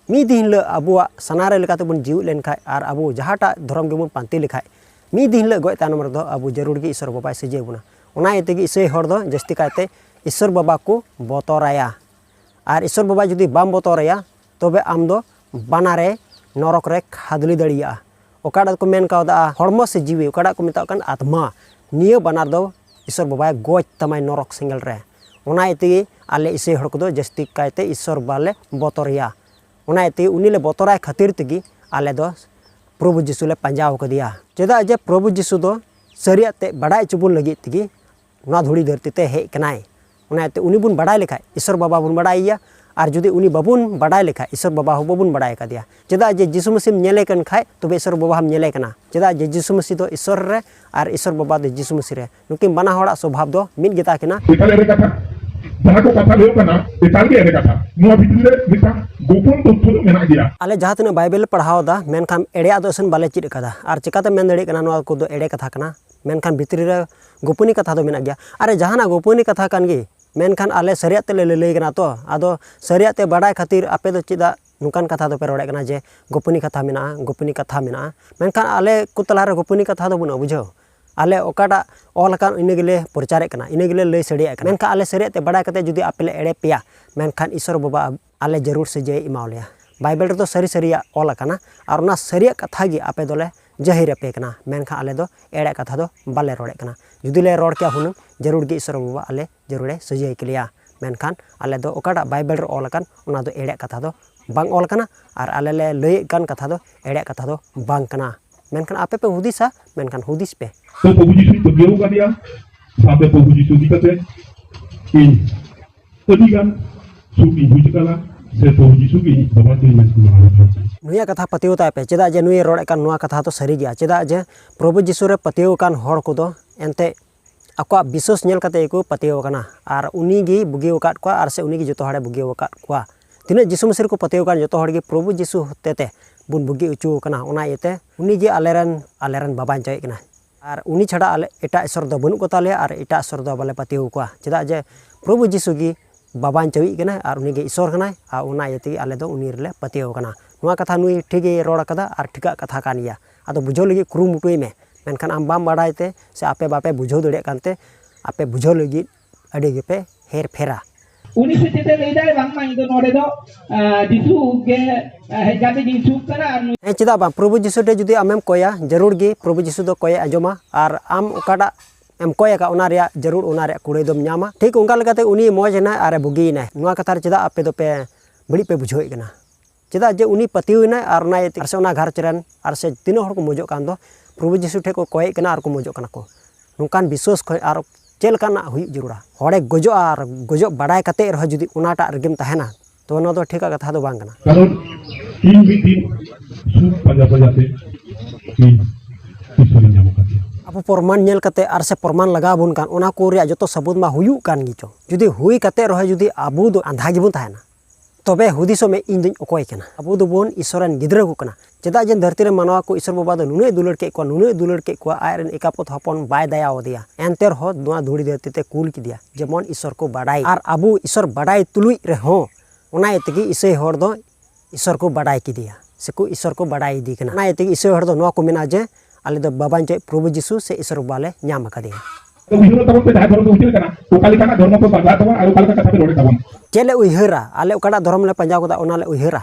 ᱢᱤᱫ ᱫᱤᱱ ᱦᱤᱞᱳᱜ ᱟᱵᱚᱣᱟᱜ ᱥᱟᱱᱟᱨᱮ ᱞᱮᱠᱟᱛᱮᱵᱚᱱ ᱡᱤᱣᱮᱫ ᱞᱮᱱᱠᱷᱟᱡ ᱟᱨ ᱟᱵᱚ ᱡᱟᱦᱟᱸᱴᱟᱜ ᱫᱷᱚᱨᱚᱢ ᱜᱮᱵᱚᱱ ᱯᱟᱱᱛᱮ ᱞᱮᱠᱷᱟᱡ ᱢᱤᱫ ᱫᱤᱱ ᱦᱤᱞᱳᱜ ᱜᱚᱡ ᱛᱟᱭᱱᱚᱢ ᱨᱮᱫᱚ ᱟᱵᱚ ᱡᱟᱹᱨᱩᱲ ᱜᱮ ᱤᱥᱚᱨ ᱵᱟᱵᱟᱭ ᱥᱤᱨᱡᱟᱹᱣ ᱵᱚᱱᱟ ᱚᱱᱟ ᱤᱭᱟᱹ ᱛᱮᱜᱮ ᱤᱥᱟᱹᱭ ᱦᱚᱲ ᱫᱚ ᱡᱟᱹᱥᱛᱤ ᱠᱟᱭᱛᱮ ᱤᱥᱚᱨ ᱵᱟᱵᱟ ᱠᱚ ᱵᱚᱛᱚᱨᱟᱭᱟ ᱟᱨ ᱤᱥᱚᱨ ᱵᱟᱵᱟ ᱡᱩᱫᱤ ᱵᱟᱢ ᱵᱚᱛᱚᱨᱟᱭᱟ ᱛᱚᱵᱮ ᱟᱢ ᱫᱚ ᱵᱟᱱᱟᱨᱮ ᱱᱚᱨᱚᱠ ᱨᱮ ᱠᱷᱟᱫᱽᱞᱤ ᱫᱟᱲᱮᱭᱟᱜᱼᱟ ᱚᱠᱟᱴᱟᱜ ᱠᱚ ᱢᱮᱱ ᱠᱟᱣᱫᱟ ᱦᱚᱲᱢᱚ ᱥᱮ ᱡᱤᱣᱤ ᱚᱠᱟᱴᱟᱜ ᱠᱚ ᱢᱮᱛᱟᱜ ᱠᱟᱱ ᱟᱛᱢᱟ ᱱᱤᱭᱟᱹ ᱵᱟᱱᱟᱨ ᱫᱚ ᱤᱥᱚᱨ ᱵᱟᱵᱟᱭ ᱜᱚᱡ ᱛᱟᱢᱟᱭ ᱱᱚᱨᱚᱠ ᱥᱮᱸᱜᱮᱞ ᱨᱮ ᱚᱱᱟ ᱤᱛᱮᱜᱮ ᱟᱞᱮ ᱤᱥᱟᱹᱭ ᱦᱚᱲ ᱠᱚᱫᱚ ᱡᱟᱹᱥᱛᱤ ᱠᱟᱭᱛᱮ ᱤᱥᱚᱨ ᱵᱟᱞᱮ ᱵᱚᱛᱚᱨᱮᱭᱟ ᱚᱱᱟ ᱤᱛᱮᱜᱮ ᱩᱱᱤ ᱞᱮ ᱵᱚᱛᱚᱨᱟᱭ ᱠᱷᱟᱹᱛᱤᱨ ᱛᱮᱜᱮ ᱟᱞᱮ ᱫᱚ ᱯᱨᱚᱵᱷᱩ ᱡᱤᱥᱩ ᱞᱮ ᱯᱟᱸᱡᱟ ᱟᱠᱟᱫᱮᱭᱟ ᱪᱮᱫᱟᱜ ᱡᱮ ᱯᱨᱚᱵᱷᱩ ᱡᱤᱥᱩ ᱫᱚ ᱥᱟᱹᱨᱤᱭᱟᱜ ᱛᱮ ᱵᱟᱰᱟᱭ ᱦᱚᱪᱚ ᱵᱚᱱ ᱞᱟᱹᱜᱤᱫ ᱛᱮᱜᱮ ᱱᱚᱣᱟ ᱫᱷᱩᱲᱤ ᱫᱷᱟᱹᱨᱛᱤ ᱛᱮ ᱦᱮᱡ ᱠᱟᱱᱟᱭ ᱚᱱᱟ ᱤᱭᱟᱹᱛᱮ ᱩᱱᱤ ᱵᱚᱱ ᱵᱟᱰᱟᱭ ᱞᱮᱠᱷᱟᱡ ᱤᱥᱚᱨ ᱵᱟᱵᱟ ᱵᱚᱱ ᱵᱟᱰᱟᱭᱮᱭᱟ ᱟᱨ ᱡᱩᱫᱤ ᱩᱱᱤ ᱵᱟᱵᱚᱱ ᱵᱟᱰᱟᱭ ᱞᱮᱠᱷᱟᱡ ᱤᱥᱚᱨ ᱵᱟᱵᱟ ᱦᱚᱸ ᱵᱟᱵᱚᱱ ᱵᱟᱰᱟᱭ ᱠᱟᱫᱮᱭᱟ ᱪᱮᱫᱟᱜ ᱡᱮ ᱡᱤᱥᱩ ᱢᱟᱹᱥᱤᱢ ᱧᱮᱞᱮ ᱠᱟᱱ ᱠᱷᱟᱡ ᱛᱚᱵᱮ ᱤᱥᱚᱨ ᱵᱟᱵᱟ ᱦᱚᱸᱢ ᱧᱮᱞᱮ ᱠᱟᱱᱟ ᱪᱮᱫᱟᱜ ᱡᱮ ᱡᱤᱥᱩ ᱢᱟᱹᱥᱤ ᱫᱚ ᱤᱥᱚᱨ ᱨᱮ ᱟᱨ ᱤᱥᱚᱨ ᱵᱟᱵᱟ ᱫᱚ ᱡᱤᱥᱩ ᱢᱟᱹᱥᱤ ᱨᱮ ᱱᱩᱠᱤᱱ ᱵᱟᱱᱟ ᱦᱚᱲᱟᱜ ᱥᱚᱵᱷᱟᱵ ᱫᱚ ᱢᱤᱫ ᱜᱮᱛᱟ ᱠᱤᱱᱟ ᱮᱠᱟᱞ ᱮᱲᱮ ᱠᱟᱛᱷᱟ ᱡᱟᱦᱟᱸ ᱠᱚ ᱠᱟᱛᱷᱟ ᱞᱟᱹᱭᱚᱜ ᱠᱟᱱᱟ ᱮᱠᱟᱞ ᱜᱮ ᱮᱲᱮ ᱠᱟᱛᱷᱟ ᱱᱚᱣᱟ ᱵᱷᱤᱛᱨᱤ ᱨᱮ ᱢᱤᱫᱴᱟᱝ ᱜᱳᱯᱚᱱ ᱛᱚᱛᱛᱷᱚ ᱫᱚ ᱢᱮᱱᱟᱜ ᱜᱮᱭᱟ ᱟᱞᱮ ᱡᱟᱦᱟᱸ ᱛᱤᱱᱟᱹᱜ ᱵᱟᱭᱵᱮᱞ ᱯᱟᱲᱦᱟᱣ ᱫᱟ ᱢᱮᱱᱠᱷᱟᱱ ᱮᱲᱮᱭᱟᱜ ᱫᱚ ᱮᱥᱮᱱ ᱵᱟᱞᱮ ᱪᱮᱫ ᱠᱟᱫᱟ ᱟᱨ ᱪᱮᱠᱟᱛᱮᱢ ᱢᱮᱱ ᱫᱟᱲᱮᱭᱟᱜ ᱠᱟᱱᱟ ᱱᱚᱣᱟ ᱠᱚᱫᱚ ᱮᱲᱮ ᱠᱟᱛᱷᱟ ᱠᱟᱱᱟ ᱢᱮᱱᱠᱷᱟᱱ ᱵᱷᱤᱛᱨᱤ ᱨᱮ ᱜᱳᱯᱚᱱᱤ ᱠᱟᱛᱷᱟ ᱫᱚ ᱢᱮᱱᱟᱜ ᱜᱮᱭᱟ ᱟᱨ ᱡᱟᱦᱟᱱᱟᱜ ᱜᱳᱯᱚᱱᱤ ᱠᱟᱛᱷᱟ ᱠᱟᱱ ᱜᱮ ᱢᱮᱱᱠᱷᱟᱱ ᱟᱞᱮ ᱥᱟᱹᱨᱤᱭᱟᱜ ᱛᱮᱞᱮ ᱞᱟᱹᱞᱟᱹᱭ ᱠᱟᱱᱟ ᱛᱚ ᱟᱫᱚ ᱥᱟᱹᱨᱤᱭᱟᱜ ᱛᱮ ᱵᱟᱰᱟᱭ ᱠᱷᱟᱹᱛᱤᱨ ᱟᱯᱮ ᱫᱚ ᱪᱮᱫᱟᱜ ᱱᱚᱝᱠᱟᱱ ᱠᱟᱛᱷᱟ ᱫᱚᱯᱮ ᱨᱚᱲᱮᱫ ᱠᱟᱱᱟ ᱡᱮ ᱜᱳᱯᱚᱱᱤ ᱠᱟᱛᱷᱟ ᱢᱮᱱᱟᱜᱼᱟ ᱜᱳᱯᱚᱱᱤ ᱠᱟᱛᱷᱟ ᱢᱮᱱᱟᱜᱼᱟ ᱢᱮᱱᱠᱷᱟᱱ ᱟᱞᱮ ᱠᱚ ᱛᱟᱞᱟᱨᱮ ᱜᱳᱯᱚᱱᱤ ᱠᱟᱛᱷᱟ ᱫᱚ ᱵᱟᱹᱱᱩᱜᱼᱟ ᱵᱩᱡᱷᱟᱹᱣ ᱟᱞᱮ ᱚᱠᱟᱴᱟᱜ ᱚᱞ ᱟᱠᱟᱱ ᱤᱱᱟᱹ ᱜᱮᱞᱮ ᱯᱨᱚᱪᱟᱨᱮᱫ ᱠᱟᱱᱟ ᱤᱱᱟᱹ ᱜᱮᱞᱮ ᱞᱟᱹᱭ ᱥᱟᱰᱮᱭᱟᱜ ᱠᱟᱱᱟ ᱢᱮᱱᱠᱷᱟᱱ ᱟᱞᱮ ᱥᱟᱹᱨᱤᱭᱟᱜ ᱛᱮ ᱵᱟᱰᱟᱭ ᱠᱟᱛᱮᱫ ᱡᱩᱫᱤ ᱟᱯᱮ ᱞᱮ ᱮᱲᱮ ᱯᱮᱭᱟ ᱢᱮᱱᱠᱷᱟᱱ ᱤᱥᱥᱚᱨ ᱵᱟᱵᱟ ᱟᱞᱮ ᱡᱟᱹᱨᱩᱲ ᱥᱟᱹᱡᱟᱹᱭᱮ ᱮᱢᱟᱣ ᱞᱮᱭᱟ ᱵᱟᱭᱵᱮᱞ ᱨᱮᱫᱚ ᱥᱟᱹᱨᱤ ᱥᱟᱹᱨᱤᱭᱟᱜ ᱚᱞ ᱟᱠᱟᱱᱟ ᱟᱨ ᱚᱱᱟ ᱥᱟᱹᱨᱤᱭᱟᱜ ᱠᱟᱛᱷᱟ ᱜᱮ ᱟᱯᱮ ᱫᱚᱞᱮ ᱡᱟᱹᱦᱤᱨ ᱟᱯᱮ ᱠᱟᱱᱟ ᱢᱮᱱᱠᱷᱟᱱ ᱟᱞᱮ ᱫᱚ ᱮᱲᱮ ᱠᱟᱛᱷᱟ ᱫᱚ ᱵᱟᱞᱮ ᱨᱚᱲᱮᱫ ᱠᱟᱱᱟ ᱡᱩᱫᱤ ᱞᱮ ᱨᱚᱲ ᱠᱮᱭᱟ ᱦᱩᱱᱟᱹᱝ ᱡᱟᱹᱨᱩᱲ ᱜᱮ ᱤᱥᱚᱨ ᱵᱟᱵᱟ ᱟᱞᱮ ᱡᱟᱹᱨᱩᱲᱮ ᱥᱟᱹᱡᱟᱹᱭ ᱠᱮᱞᱮᱭᱟ ᱢᱮᱱᱠᱷᱟᱱ ᱟᱞᱮ ᱫᱚ ᱚᱠᱟᱴᱟᱜ ᱵᱟᱭᱵᱮᱞ ᱨᱮ ᱚᱞ ᱟᱠᱟᱱ ᱚᱱᱟ ᱫᱚ ᱮᱲᱮ ᱠᱟᱛᱷᱟ ᱫᱚ ᱵᱟᱝ ᱚᱞ ᱟᱠᱟᱱᱟ ᱟᱨ ᱟᱞᱮ ᱞᱮ ᱞᱟᱹᱭᱮᱫ ᱠᱟᱱ ᱠᱟᱛᱷᱟ ᱫᱚ ᱮᱲᱮ ᱠᱟᱛᱷᱟ ᱫᱚ ᱵᱟᱝ ᱠᱟᱱᱟ ᱢᱮᱱᱠᱷᱟᱱ ᱟᱯᱮ ᱯᱮ ᱦᱩᱫᱤᱥᱟ ᱢᱮᱱᱠᱷᱟᱱ ᱦᱩᱫᱤᱥ ᱯᱮ ᱛᱚ ᱯᱨᱚᱵᱷᱩ ᱡᱤᱥᱩ ᱯᱟᱹᱛᱭᱟᱹᱣ ᱠᱟᱫᱮᱭᱟ ᱥᱟᱶᱛᱮ ᱯᱨᱚᱵᱷᱩ ᱡᱤᱥᱩ ᱤᱫᱤ ᱠᱟᱛᱮ ᱤᱧ ᱟᱹᱰᱤ ᱜᱟᱱ ᱥᱩᱠ ᱤᱧ ᱵᱩᱡᱽ ᱠᱟᱫᱟ ᱥᱮ ᱛᱚᱨᱡᱤ ᱥᱩᱠ ᱤᱧ ᱵᱟᱵᱟ ᱛᱤᱧ ᱢᱮᱱ ᱠᱚ ᱢᱟᱱᱟᱣ ᱠᱟᱫᱟ ᱱᱩᱭᱟᱜ ᱠᱟᱛᱷᱟ ᱯᱟᱹᱛᱭᱟᱹᱣ ᱛᱟᱭ ᱯᱮ ᱪᱮᱫᱟᱜ ᱡᱮ ᱱᱩᱭ ᱨᱚᱲ ᱮᱫ ᱠᱟᱱ ᱱᱚᱣᱟ ᱠᱟᱛᱷᱟ ᱫᱚ ᱥᱟᱹᱨᱤ ᱜᱮᱭᱟ ᱪᱮᱫᱟᱜ ᱡᱮ ᱯᱨᱚᱵᱷᱩ ᱡᱤᱥᱩ ᱨᱮ ᱯᱟᱹᱛᱭᱟᱹᱣ ᱟᱠᱟᱱ ᱦᱚᱲ ᱠᱚᱫᱚ ᱮᱱᱛᱮᱫ ᱟᱠᱚᱣᱟᱜ ᱵᱤᱥᱥᱟᱹᱥ ᱧᱮᱞ ᱠᱟᱛᱮᱫ ᱜᱮᱠᱚ ᱯᱟᱹᱛᱭᱟᱹᱣ ᱟᱠᱟᱱᱟ ᱟᱨ ᱩᱱᱤ ᱜᱮᱭ ᱵᱩᱜᱤ ᱟᱠᱟᱫ ᱠᱚᱣᱟ ᱟᱨ ᱥᱮ ᱩᱱᱤ ᱜᱮ ᱡᱚᱛᱚ ᱦᱚᱲᱮ ᱵᱩᱜᱤ ᱟᱠᱟᱫ ᱠᱚᱣᱟ ᱛᱤᱱᱟᱹᱜ ᱡᱤᱥᱩ ᱢᱟᱹᱥᱤ ᱨᱮᱠᱚ ᱯᱟᱹᱛᱭᱟᱹᱣ ᱟᱠᱟᱱ ᱡᱚᱛᱚ ᱦᱚᱲ ᱜᱮ ᱯᱨᱚᱵᱷᱩ ᱡᱤᱥᱩ ᱦᱚᱛᱮᱛᱮ ᱵᱚᱱ ᱵᱩᱜᱤ ᱦᱚᱪᱚ ᱟᱠᱟᱱᱟ ᱚᱱᱟ ᱤᱭᱟᱹᱛᱮ ᱩᱱᱤ ᱜᱮ ᱟᱞᱮ ᱨᱮᱱ ᱟᱞᱮ ᱨᱮᱱ ᱵᱟᱵᱟᱧᱪᱟᱭᱤᱡ ᱠᱟᱱᱟᱭ ᱟᱨ ᱩᱱᱤ ᱪᱷᱟᱰᱟ ᱟᱞᱮ ᱮᱴᱟᱜ ᱤᱥᱚᱨ ᱫᱚ ᱵᱟᱹᱱᱩᱜ ᱠᱚᱛᱟ ᱞᱮᱭᱟ ᱟᱨ ᱮᱴᱟᱜ ᱤᱥᱚᱨ ᱫᱚ ᱵᱟᱞᱮ ᱯᱟᱹᱛᱭᱟᱹᱣ ᱟᱠᱚᱣᱟ ᱪᱮᱫᱟᱜ ᱡᱮ ᱯᱨᱚᱵᱷᱩ ᱡᱤᱥᱩ ᱜᱮ ᱵᱟᱵᱟᱧ ᱪᱟᱹᱣᱤᱡ ᱠᱟᱱᱟᱭ ᱟᱨ ᱩᱱᱤ ᱜᱮ ᱤᱥᱚᱨ ᱠᱟᱱᱟᱭ ᱟᱨ ᱚᱱᱟ ᱤᱭᱟᱹ ᱛᱮᱜᱮ ᱟᱞᱮ ᱫᱚ ᱩᱱᱤ ᱨᱮᱞᱮ ᱯᱟᱹᱛᱭᱟᱹᱣ ᱟᱠᱟᱱᱟ ᱱᱚᱣᱟ ᱠᱟᱛᱷᱟ ᱱᱩᱭ ᱴᱷᱤᱠ ᱜᱮᱭ ᱨᱚᱲ ᱠᱟᱫᱟ ᱟᱨ ᱴᱷᱤᱠᱟᱜ ᱠᱟᱛᱷᱟ ᱠᱟᱱ ᱜᱮᱭᱟ ᱟᱫᱚ ᱵᱩᱡᱷᱟᱹᱣ ᱞᱟᱹᱜᱤᱫ ᱠᱩᱨᱩᱢᱩᱴᱩᱭ ᱢᱮ ᱢᱮᱱᱠᱷᱟᱱ ᱟᱢ ᱵᱟᱢ ᱵᱟᱲᱟᱭ ᱛᱮ ᱥᱮ ᱟᱯᱮ ᱵᱟᱯᱮ ᱵᱩᱡᱷᱟᱹᱣ ᱫᱟᱲᱮᱭᱟᱜ ᱠᱟᱱᱛᱮ ᱟᱯᱮ ᱵᱩᱡᱷᱟᱹᱣ ᱞᱟᱹᱜᱤᱫ ᱟᱹᱰᱤ ᱜᱮᱯᱮ ᱦᱮᱨ ᱯᱷᱮᱨᱟ ᱩᱱᱤ ᱥᱮ ᱪᱮᱫ ᱞᱟᱹᱭ ᱫᱟᱭ ᱵᱟᱝᱢᱟ ᱤᱧ ᱫᱚ ᱱᱚᱰᱮ ᱫᱚ ᱡᱤᱥᱩ ᱜᱮ ᱦᱮᱡ ᱠᱟᱛᱮ ᱤᱧ ᱥᱩᱠ ᱠᱟᱱᱟ ᱟᱨ ᱦᱮᱸ ᱪᱮᱫᱟᱜ ᱵᱟᱝ ᱯᱨᱚᱵᱷᱩ ᱡᱤᱥᱩ ᱴᱷᱮᱱ ᱡᱩᱫᱤ ᱟᱢᱮᱢ ᱠᱚᱭᱟ ᱡᱟᱹᱨᱩᱲ ᱜᱮ ᱯᱨᱚᱵᱷᱩ ᱡᱤᱥᱩ ᱫᱚ ᱠᱚᱭᱮ ᱟᱸᱡᱚᱢᱟ ᱟᱨ ᱟᱢ ᱚᱠᱟᱴᱟᱜ ᱮᱢ ᱠᱚᱭ ᱟᱠᱟᱫ ᱚᱱᱟ ᱨᱮᱭᱟᱜ ᱡᱟᱹᱨᱩᱲ ᱚᱱᱟ ᱨᱮᱭᱟᱜ ᱠᱩᱲᱟᱹᱭ ᱫᱚᱢ ᱧᱟᱢᱟ ᱴᱷᱤᱠ ᱚᱱᱠᱟ ᱞᱮᱠᱟᱛᱮ ᱩᱱᱤ ᱢᱚᱡᱽ ᱮᱱᱟᱭ ᱟᱨᱮ ᱵᱩᱜᱤᱭᱮᱱᱟᱭ ᱱᱚᱣᱟ ᱠᱟᱛᱷᱟ ᱨᱮ ᱪᱮᱫᱟᱜ ᱟᱯᱮ ᱫᱚᱯᱮ ᱵᱟᱹᱲᱤᱡ ᱯᱮ ᱵᱩᱡᱷᱟᱹᱣᱮᱫ ᱠᱟᱱᱟ ᱪᱮᱫᱟᱜ ᱡᱮ ᱩᱱᱤ ᱯᱟᱹᱛᱭᱟᱹᱣ ᱮᱱᱟᱭ ᱟᱨ ᱚᱱᱟ ᱤᱭᱟᱹᱛᱮ ᱟᱨ ᱥᱮ ᱚᱱᱟ ᱜᱷᱟᱨᱚᱸᱡᱽ ᱨᱮᱱ ᱟᱨ ᱥᱮ ᱛᱤᱱᱟᱹᱜ ᱦᱚᱲ ᱠᱚ ᱢᱚᱡᱚᱜ ᱠᱟᱱ ᱫᱚ ᱯᱨᱚᱵᱷᱩ ᱡᱤᱥᱩ ᱴᱷᱮᱱ ᱠᱚ ᱠᱚᱭᱮᱫ ᱠᱟᱱᱟ ᱟᱨ ᱠᱚ ᱢᱚᱡᱚᱜ ᱠᱟᱱᱟ ᱠᱚ ᱱᱚᱝᱠᱟᱱ ᱵᱤᱥᱥᱟᱹᱥ ᱠᱷᱚᱱ ᱟᱨ ᱪᱮᱫ ᱞᱮᱠᱟᱱᱟᱜ ᱦᱩᱭᱩᱜ ᱡᱟᱹᱨᱩᱲᱟ ᱦᱚᱲᱮ ᱜᱚᱡᱚᱜᱼᱟ ᱟᱨ ᱜᱚᱡᱚᱜ ᱵᱟᱰᱟᱭ ᱠᱟᱛᱮ ᱨᱮᱦᱚᱸ ᱡᱩᱫᱤ ᱚᱱᱟᱴᱟᱜ ᱨᱮᱜᱮᱢ ᱛᱟᱦᱮᱱᱟ ᱛᱚ ᱚᱱᱟ ᱫᱚ ᱴᱷᱤᱠᱟᱜ ᱠᱟᱛᱷᱟ ᱫᱚ ᱵᱟᱝ ᱠᱟᱱᱟ ᱠᱟᱨᱚᱱ ᱤᱧ ᱢᱤᱫ ᱫᱤᱱ ᱥᱩᱠ ᱯᱟᱸᱡᱟ ᱯᱟᱸᱡᱟ ᱛᱮ ᱤᱧ ᱤᱥᱚᱨᱤᱧ ᱧᱟᱢ ᱟᱠᱟᱫᱮᱭᱟ ᱟᱵᱚ ᱯᱨᱚᱢᱟᱱ ᱧᱮᱞ ᱠᱟᱛᱮ ᱟᱨ ᱥᱮ ᱯᱨᱚᱢᱟᱱ ᱞᱟᱜᱟᱣ ᱵᱚᱱ ᱠᱟᱱ ᱚᱱᱟ ᱠᱚ ᱨᱮᱭᱟᱜ ᱡᱚᱛᱚ ᱥᱟᱹᱵᱩᱫ ᱢᱟ ᱦᱩᱭᱩᱜ ᱠᱟᱱ ᱜᱮᱪᱚ ᱡᱩᱫᱤ ᱦᱩᱭ ᱠᱟᱛᱮ ᱨᱮᱦᱚᱸ ᱡᱩᱫᱤ ᱟᱵᱚ ᱫᱚ ᱟᱸᱫᱷᱟ ᱜᱮᱵᱚᱱ ᱛᱟᱦᱮᱱᱟ ᱛᱚᱵᱮ ᱦᱩᱫᱤᱥᱚᱜ ᱢᱮ ᱤᱧ ᱫᱚᱧ ᱚᱠᱚᱭ ᱠᱟᱱᱟ ᱟᱵᱚ ᱫᱚᱵᱚᱱ ᱤᱥᱚᱨ ᱨᱮᱱ ᱜᱤᱫᱽᱨᱟᱹ ᱠᱚ ᱠᱟᱱᱟ ᱪᱮᱫᱟᱜ ᱡᱮ ᱫᱷᱟᱹᱨᱛᱤ ᱨᱮ ᱢᱟᱱᱣᱟ ᱠᱚ ᱤᱥᱚᱨ ᱵᱟᱵᱟ ᱫᱚ ᱱᱩᱱᱟᱹᱜ ᱫᱩᱞᱟᱹᱲ ᱠᱮᱫ ᱠᱚᱣᱟ ᱱᱩᱱᱟᱹᱜ ᱫᱩᱞᱟᱹᱲ ᱠᱮᱫ ᱠᱚᱣᱟ ᱟᱡ ᱨᱮᱱ ᱮᱠᱟᱯᱚᱛ ᱦᱚᱯᱚᱱ ᱵᱟᱭ ᱫᱟᱭᱟ ᱟᱫᱮᱭᱟ ᱮᱱᱛᱮ ᱨᱮᱦᱚᱸ ᱱᱚᱣᱟ ᱫᱷᱩᱲᱤ ᱫᱷᱟᱹᱨᱛᱤ ᱛᱮ ᱠᱩᱞ ᱠᱮᱫᱮᱭᱟ ᱡᱮᱢᱚᱱ ᱤᱥᱚᱨ ᱠᱚ ᱵᱟᱰᱟᱭ ᱟᱨ ᱟᱵᱚ ᱤᱥᱚᱨ ᱵᱟᱰᱟᱭ ᱛᱩᱞᱩᱡ ᱨᱮᱦᱚᱸ ᱚᱱᱟ ᱤᱭᱟᱹ ᱛᱮᱜᱮ ᱤᱥᱟᱹᱭ ᱦᱚᱲ ᱫᱚ ᱤᱥᱚᱨ ᱠᱚ ᱵᱟᱰᱟᱭ ᱠᱮᱫᱮᱭᱟ ᱥᱮᱠᱚ ᱤᱥᱚᱨ ᱠᱚ ᱵᱟᱰᱟᱭ ᱤᱫᱤ ᱠᱟᱱᱟ ᱚᱱᱟ ᱤᱭᱟᱹ ᱛᱮᱜᱮ ᱤᱥᱟᱹᱭ ᱦᱚᱲ ᱫᱚ ᱱᱚᱣᱟ ᱠᱚ ᱢᱮᱱᱟ ᱡᱮ ᱟᱞᱮ ᱫᱚ ᱵᱟᱵᱟ ᱱᱤᱛᱚᱜ ᱯᱨᱚᱵᱷᱩ ᱡᱤᱥᱩ ᱥᱮ ᱤᱥᱚᱨ ᱵᱟᱵᱟ ᱞᱮ ᱧᱟᱢ ᱟᱠᱟᱫᱮᱭᱟ ᱛᱚ ᱩᱭᱦᱟᱹᱨ ᱛᱟᱵᱚᱱ ᱯᱮ ᱡᱟᱦᱟᱸ ᱫᱷᱚᱨᱚᱢ ᱫᱚ ᱪᱮᱫ ᱞᱮᱠᱟᱱᱟ ᱚᱠᱟ ᱞᱮᱠᱟᱱᱟᱜ ᱫᱷᱚᱨᱢᱚ ᱯᱮ ᱯᱟᱸᱡᱟ ᱛᱟᱵᱚᱱ ᱟᱨ ᱚᱠᱟ ᱞᱮᱠᱟ ᱠᱟᱛᱷᱟ ᱯᱮ ᱨᱚᱲᱮᱫ ᱛᱟᱵᱚᱱ ᱪᱮᱫ ᱞᱮ ᱩᱭᱦᱟᱹᱨᱟ ᱟᱞᱮ ᱚᱠᱟᱴᱟᱜ ᱫᱷᱚᱨᱚᱢ ᱞᱮ ᱯᱟᱸᱡᱟ ᱠᱟᱫᱟ ᱚᱱᱟ ᱞᱮ ᱩᱭᱦᱟᱹᱨᱟ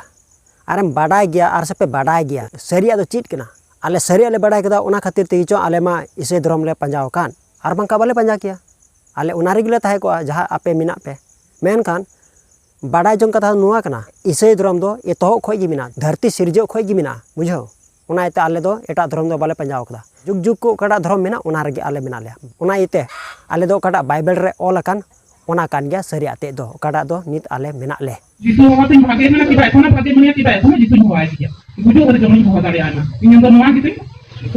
ᱟᱨᱮᱢ ᱵᱟᱰᱟᱭ ᱜᱮᱭᱟ ᱟᱨ ᱥᱮᱯᱮ ᱵᱟᱰᱟᱭ ᱜᱮᱭᱟ ᱥᱟᱹᱨᱤᱭᱟᱜ ᱫᱚ ᱪᱮᱫ ᱠᱟᱱᱟ ᱟᱞᱮ ᱥᱟᱹᱨᱤᱭᱟᱜ ᱞᱮ ᱵᱟᱰᱟᱭ ᱠᱟᱫᱟ ᱚᱱᱟ ᱠᱷᱟᱹᱛᱤᱨ ᱛᱮᱜᱮ ᱪᱚ ᱟᱞᱮ ᱢᱟ ᱤᱥᱟᱹᱭ ᱫᱷᱚᱨᱚᱢ ᱞᱮ ᱯᱟᱸᱡᱟ ᱟᱠᱟᱱ ᱟᱨ ᱵᱟᱝᱠᱷᱟᱱ ᱵᱟᱞᱮ ᱯᱟᱸᱡᱟ ᱠᱮᱭᱟ ᱟᱞᱮ ᱚᱱᱟ ᱨᱮᱜᱮ ᱞᱮ ᱛᱟᱦᱮᱸ ᱠᱚᱜᱼᱟ ᱡᱟᱦᱟᱸ ᱟᱯᱮ ᱢᱮᱱᱟᱜ ᱯᱮ ᱢᱮᱱᱠᱷᱟᱱ ᱵᱟᱰᱟᱭ ᱡᱚᱝ ᱠᱟᱛᱷᱟ ᱫᱚ ᱱᱚᱣᱟ ᱠᱟᱱᱟ ᱤᱥᱟᱹᱭ ᱫᱷᱚᱨᱚᱢ ᱫᱚ ᱮᱛᱚᱦᱚᱵ ᱠᱷᱚᱱ ᱜᱮ ᱢᱮᱱᱟᱜᱼᱟ ᱫᱷᱟᱹᱨᱛᱤ ᱥᱤᱨᱡᱟᱹᱣ ᱠᱷᱚᱱ ᱜᱮ ᱢᱮᱱᱟᱜᱼᱟ ᱵᱩᱡᱷᱟᱹᱣ ᱚᱱᱟ ᱤᱭᱟᱹᱛᱮ ᱟᱞᱮ ᱫᱚ ᱮᱴᱟᱜ ᱫᱷᱚᱨᱚᱢ ᱫᱚ ᱵᱟᱞᱮ ᱯᱟᱸᱡᱟ ᱟᱠᱟᱫᱟ ᱡᱩᱜᱽ ᱡᱩᱜᱽ ᱠᱷᱚᱱ ᱚᱠᱟᱴᱟᱜ ᱫᱷᱚᱨᱚᱢ ᱢᱮᱱᱟᱜ ᱚᱱᱟ ᱨᱮᱜᱮ ᱟᱞᱮ ᱢᱮᱱᱟᱜ ᱞᱮᱭᱟ ᱚᱱᱟ ᱤᱭᱟᱹᱛᱮ ᱟᱞᱮ ᱫᱚ ᱚᱠᱟᱴᱟᱜ ᱵᱟᱭᱵᱮᱞ ᱨᱮ ᱚᱞ ᱟᱠᱟᱱ ᱚᱱᱟ ᱠᱟᱱ ᱜᱮᱭᱟ ᱥᱟᱹᱨᱤᱭᱟᱜ ᱛᱮᱫ ᱫᱚ ᱚᱠᱟᱴᱟᱜ ᱫᱚ ᱱᱤᱛ ᱟᱞᱮ ᱢᱮᱱᱟᱜ ᱞᱮ ᱡᱤᱥᱩ ᱦᱚᱦᱚ ᱛᱤᱧ ᱵᱷᱟᱜᱮ ᱢᱮᱱᱟ ᱠᱤ ᱵᱟᱭ ᱠᱷᱚᱱᱟ ᱵᱷᱟᱜᱮ ᱢᱮᱱᱟ ᱠᱤ ᱵᱟᱭ ᱠᱷᱚᱱᱟ ᱡᱤᱥᱩᱧ ᱦᱚᱦᱚ ᱟᱭ ᱜᱮᱭᱟ ᱵᱩᱡᱷᱟᱹᱣ ᱠᱟᱛᱮ ᱡᱚᱢᱤᱧ ᱦᱚᱦᱚ ᱫᱟᱲᱮᱭᱟᱜᱼᱟ ᱢᱟ ᱤᱧ ᱫᱚ ᱱᱚᱣᱟ ᱜᱮᱛᱤᱧ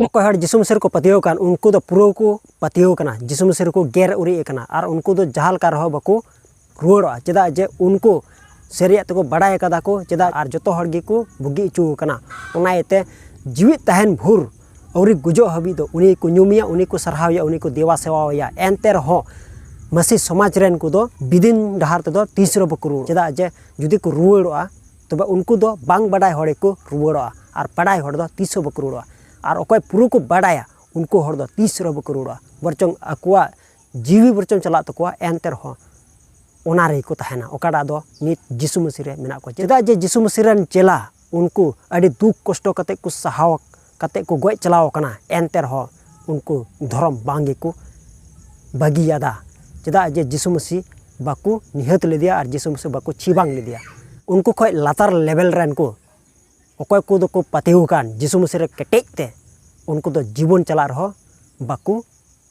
ᱚᱠᱚᱭ ᱦᱚᱲ ᱡᱤᱥᱩ ᱢᱤᱥᱤᱨ ᱠᱚ ᱯᱟᱹᱛᱭᱟᱹᱣ ᱠᱟᱱ ᱩᱱᱠᱩ ᱫᱚ ᱯᱩᱨᱟᱹ ᱠᱚ ᱯᱟᱹᱛᱭᱟᱹᱣ ᱠᱟᱱᱟ ᱡᱤᱥᱩ ᱢᱤᱥᱤᱨ ᱠᱚ ᱜᱮᱨ ᱩᱨᱤᱡ ᱟᱠᱟᱱᱟ ᱟᱨ ᱩᱱᱠᱩ ᱫᱚ ᱡᱟᱦᱟᱸ ᱞᱮᱠᱟ ᱨᱮᱦᱚᱸ ᱵᱟᱠᱚ ᱨᱩᱣᱟᱹᱲᱚᱜᱼᱟ ᱪᱮᱫᱟᱜ ᱡᱮ ᱩᱱᱠᱩ ᱥᱟᱹᱨᱤᱭᱟᱜ ᱛᱮᱠᱚ ᱵᱟᱲᱟᱭ ᱠᱟᱫᱟ ᱠᱚ ᱪᱮᱫᱟᱜ ᱟᱨ ᱡᱚᱛᱚ ᱦᱚᱲ ᱜᱮᱠᱚ ᱵᱩᱜᱤ ᱦᱚᱪᱚ ᱟᱠᱟᱱᱟ ᱚᱱᱟ ᱤᱭᱟᱹᱛᱮ ᱡᱤᱣᱮᱫ ᱛᱟᱦᱮᱱ ᱵᱷᱳᱨ ᱟᱹᱣᱨᱤ ᱜᱩᱡᱩᱜ ᱦᱟᱹᱵᱤᱡ ᱫᱚ ᱩᱱᱤ ᱠᱚ ᱧᱩᱢᱮᱭᱟ ᱩᱱᱤ ᱠᱚ ᱥᱟᱨᱦᱟᱣᱮᱭᱟ ᱩᱱᱤ ᱠᱚ ᱫᱮᱵᱟ ᱥᱮᱵᱟᱣᱟᱭᱟ ᱮᱱᱛᱮ ᱨᱮᱦᱚᱸ ᱢᱟᱹᱥᱤ ᱥᱚᱢᱟᱡᱽ ᱨᱮᱱ ᱠᱚᱫᱚ ᱵᱤᱫᱤᱱ ᱰᱟᱦᱟᱨ ᱛᱮᱫᱚ ᱛᱤᱥ ᱨᱮᱦᱚᱸ ᱵᱟᱠᱚ ᱨᱩᱣᱟᱹᱲ ᱪᱮᱫᱟᱜ ᱡᱮ ᱡᱩᱫᱤ ᱠᱚ ᱨᱩᱣᱟᱹᱲᱚᱜᱼᱟ ᱛᱚᱵᱮ ᱩᱱᱠᱩ ᱫᱚ ᱵᱟᱝ ᱵᱟᱰᱟᱭ ᱦᱚᱲ ᱜᱮᱠᱚ ᱨᱩᱣᱟᱹᱲᱚᱜᱼᱟ ᱟᱨ ᱵᱟᱰᱟᱭ ᱦᱚᱲ ᱫᱚ ᱛᱤᱥ ᱦᱚᱸ ᱵᱟᱠᱚ ᱨᱩᱣᱟᱹᱲᱚᱜᱼᱟ ᱟᱨ ᱚᱠᱚᱭ ᱯᱩᱨᱟᱹ ᱠᱚ ᱵᱟᱰᱟᱭᱟ ᱩᱱᱠᱩ ᱦᱚᱲ ᱫᱚ ᱛᱤᱥ ᱨᱮᱦᱚᱸ ᱵᱟᱠᱚ ᱨᱩᱣᱟᱹᱲᱚᱜᱼᱟ ᱵᱚᱨᱪᱚᱝ ᱟᱠᱚᱣᱟᱜ ᱡᱤᱣᱤ ᱵᱚᱨᱪᱚᱝ ᱪᱟᱞᱟᱜ ᱛᱟᱠᱚᱣᱟ ᱮᱱᱛᱮ ᱨᱮᱦᱚᱸ ᱚᱱᱟ ᱨᱮᱜᱮ ᱠᱚ ᱛᱟᱦᱮᱱᱟ ᱚᱠᱟᱴᱟᱜ ᱫᱚ ᱱᱤᱛ ᱡᱤᱥᱩ ᱢᱟᱹᱥᱤ ᱨᱮ ᱢᱮᱱᱟᱜ ᱠᱚᱣᱟ ᱪᱮᱫᱟᱜ ᱡᱮ ᱡᱤᱥᱩ ᱢᱟᱹᱥᱤ ᱨᱮᱱ ᱪᱮᱞᱟ ᱩᱱᱠᱩ ᱟᱹᱰᱤ ᱫᱩᱠ ᱠᱚᱥᱴᱚ ᱠᱟᱛᱮᱫ ᱠᱚ ᱥᱟᱦᱟᱣ ᱠᱟᱛᱮᱫ ᱠᱚ ᱜᱚᱡ ᱪᱟᱞᱟᱣ ᱠᱟᱱᱟ ᱮᱱᱛᱮ ᱨᱮᱦᱚᱸ ᱩᱱᱠᱩ ᱫᱷᱚᱨᱚᱢ ᱵᱟᱝ ᱜᱮᱠᱚ ᱵᱟᱹᱜᱤᱭᱟᱫᱟ ᱪᱮᱫᱟᱜ ᱡᱮ ᱡᱤᱥᱩ ᱢᱟᱹᱥᱤ ᱵᱟᱠᱚ ᱱᱤᱦᱟᱹᱛ ᱞᱮᱫᱮᱭᱟ ᱟᱨ ᱡᱤᱥᱩ ᱢᱟᱹᱥᱤ ᱵᱟᱠᱚ ᱪᱷᱤ ᱵᱟᱝ ᱞᱮᱫᱮᱭᱟ ᱩᱱᱠᱩ ᱠᱷᱚᱡ ᱞᱟᱛᱟᱨ ᱞᱮᱵᱮᱞ ᱨᱮᱱ ᱠᱚ ᱚᱠᱚᱭ ᱠᱚᱫᱚ ᱠᱚ ᱯᱟᱹᱛᱭᱟᱹᱣ ᱟᱠᱟᱱ ᱡᱤᱥᱩ ᱢᱟᱹᱥᱤ ᱨᱮ ᱠᱮᱴᱮᱡ ᱛᱮ ᱩᱱᱠᱩ ᱫᱚ ᱡᱤᱵᱚᱱ ᱪᱟᱞᱟᱜ ᱨᱮᱦᱚᱸ ᱵᱟᱠᱚ